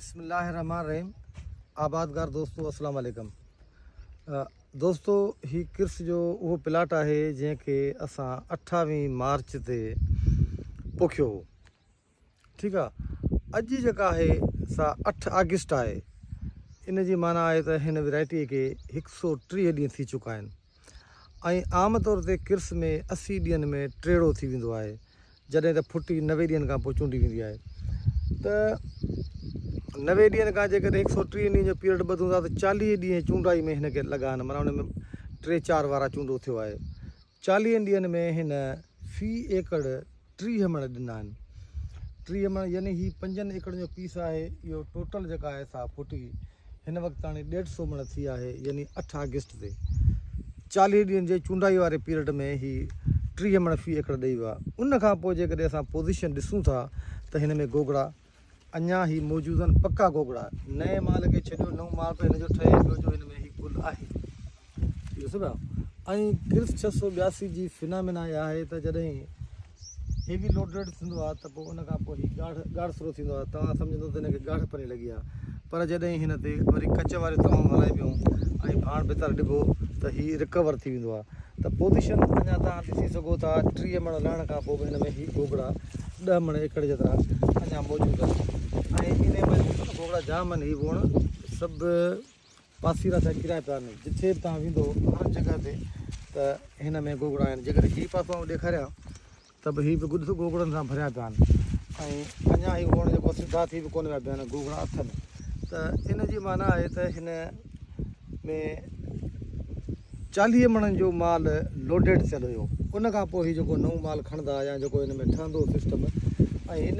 بسم الله الرحمٰن الرحيم آبادگار دوستو السلام عليڪم دوستو هي ڪرس جو اهو پلاٽ آهي جنهن کي اسان اٺاويهه مارچ تي پوکيو هو ٺيڪ آ اڄ جيڪا آهي سا اٺ آگسٽ آهي ان جي معنيٰ آهي ته هن ويرائٽي کي هڪ سؤ ٽيهه ڏينهن ٿي چڪا آهن ۽ عام طور تي ڪرس ۾ اسي ڏينهن ۾ ٽيڙو ٿي ويندو آهي جڏهن ته ڦٽي نوي ڏينهن کان پوء چونڊي ويندي آهي ته نوي ڏينهن کان جيڪڏهن هڪ سؤ ٽيهه ڏينهن جو پيريڊ ٻڌون ٿا ته چاليهه ڏينهن چونڊائي ۾ هن کي لڳا آهن مانا ان ۾ ٽي چار وارا چونڊو ٿيو آهي چاليهن ڏينهن ۾ هن في ايڪڙ ٽيهه مڻ ڏنا آهن ٽيهه مڻ يعني هي پنجن ايڪڙن جو پيس آهي اهو ٽوٽل جيڪا آهي سا ڦٽي هن وقت تاڻي ڏيڍ سو مڻ ٿي آهي يعني اٺ آگسٽ تي چاليهه ڏينهن جي چونڊائي واري پيريڊ ۾ هي ٽيهه مڻ في ايڪڙ ڏئي ويو آهي ان کان پوء جيڪڏهن اسان پوزيشن ڏسون ٿا ته هن ۾ گوگڙا اڃا هي موجودن پڪا گوگڙا. نئين مال کي ڇڏيو نئون مال ته هن جو ٺهي پيو جو هن ۾ هي گل آهي. ڏسو پيا ۽ ڪرس ڇهه سؤ ٻياسي جي فنامينا اها آهي ته جڏهن هيوي لوڊريڊ ٿيندو آهي ته پوء ان کان پوء هي ڳاڙهه ڳاڙهه سرو ٿيندو آهي توهان سمجهندو ته هن کي ڳاڙهه پني لڳي آهي پر جڏهن هن تي وري ڪچ واريون توهان هلائبيون ۽ ڀاڻ ڀتر ڏبو ته هي رڪور ٿي ويندو آهي ته پوزيشن اڃا توهان ڏسي سگهو ٿا ٽيهه مڻ لهڻ کان پوء به هن ۾ هي گوگڙا ڏهه مڻ ايڪڙ جيترا اڃا موجود آهن ۽ ان ۾ گوگڙا جام آهن هي ووڻ سڀ پاسيرا ٿيا ڪريا پيا آهن جتي به توهان ويندو هر جڳهه تي ته هن ۾ گوگڙا آهن جيڪڏهن هي پاسو آئون ڏيکاريان ته به هي به گڏ گوگڙن سان ڀريا پيا آهن ۽ اڃا هي وڻ جيڪو سڌا ٿي به ڪونه ويا بيهن گوگڙا اٿن ته ان جي معنيٰ آهي ته هن ۾ چاليهه مڻن جو مال لوڊيڊ ٿيل هيو ان کان پوء هي جيڪو نئون مال کڻندا يا جيڪو هن ۾ ٺهندو سسٽم ۽ هن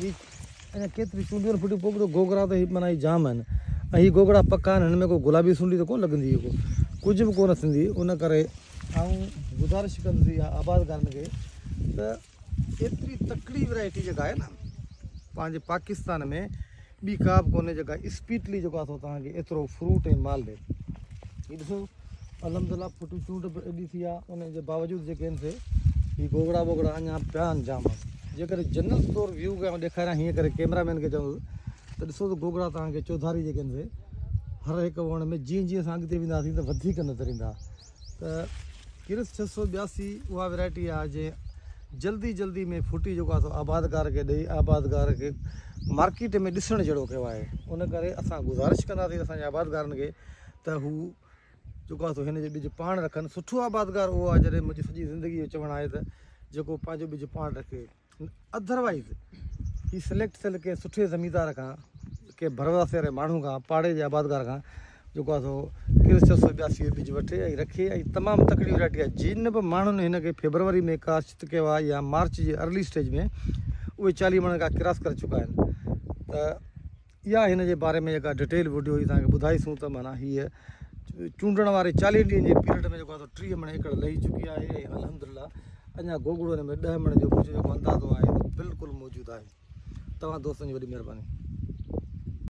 هي اڃا ڪيتريون چونڊيون ڦٽيون پوء ٻڌو گوگڙا ته هي معنيٰ جام آهن ۽ هي گوگڙا پڪا آهن هن ۾ ڪو گلابي سنڊي ته ڪونه لڳندي ڪو ڪجهه به ڪونه ٿيندي ان ڪري آئون گذارش ڪندسي اها آبادگارن کي ته ايتري تڪڙي ورائٽي جيڪا آهي نا پنهنجي پاڪستان ۾ ٻي ڪابه ڪونهي جيڪا اسپيڊلي جيڪو آ سو توهان کي ايترو فروٽ ۽ مال ڏي هي ڏسو الحمدلله ڦٽي چونڊ به ايڏي ٿي آ ان جي باوجود جيڪي ان سي هي گوگڙا ووگڙا اڃا پيا آهن جام جيڪر جنرل طور ويو ڪيا ڏيکاريان هيئن ڪري ڪيمرا مين کي چون ته ڏسو ته گوگڙا توهان کي چوڌاري جيڪي ان سي هر هڪ وڻ ۾ جيئن جيئن اسان اڳتي وينداسين ته وڌيڪ نظر ايندا ته ڪرس ڇهه سؤ ٻياسي اها ورائٽي آهي جنهن جلدي جلدي ۾ ڦٽي جيڪو آهي سو آبادگار کي ڏئي آبادگار کي مارڪيٽ ۾ ڏسڻ جهڙو ڪيو آهي ان ڪري اسان گذارش ڪنداسين اسان جي آبادگارن کي ته هو جيڪو آهي سو هن جو ٻج پاڻ رکن سٺو آبادگار اهو آهي جڏهن منهنجي سڄي زندگي جو چوڻ آهي ته جيڪو پنهنجو ٻج پاڻ رکي اڌر وائيز هي سليڪٽ ٿيل ڪنهن سٺي زميندار کان ڪنهن ڀرواسي واري ماڻهو کان پاڙي جي آبادگار کان جيڪو آهي سو ڪرس چار سؤ ٻياسي جو ٻج وٺي ۽ رکي ۽ تمام تڪڙي ورائٽي آهي جن به ماڻهن هن کي فيبروري ۾ ڪاشت ڪيو آهي يا مارچ جي ارلي اسٽيج ۾ اهي چاليهه مڻن کان ڪراس ڪري چڪا آهن ته اها هن جي باري ۾ جيڪا ڊٽيل وڊيو هي توهانکي ٻڌائي سون ته معنيٰ هيء چونڊڻ واري چاليهن ڏينهن جي پيريڊ ۾ جيڪو آهي ٽيهه مڻ ايڪڙ لهي چڪي آهي ۽ الحمدلله اڃا گوگڙو هن ۾ ڏهه مڻ جو منهنجو جيڪو اندازو آهي بلڪل موجود آهي توهان دوستن جي وڏي مهرباني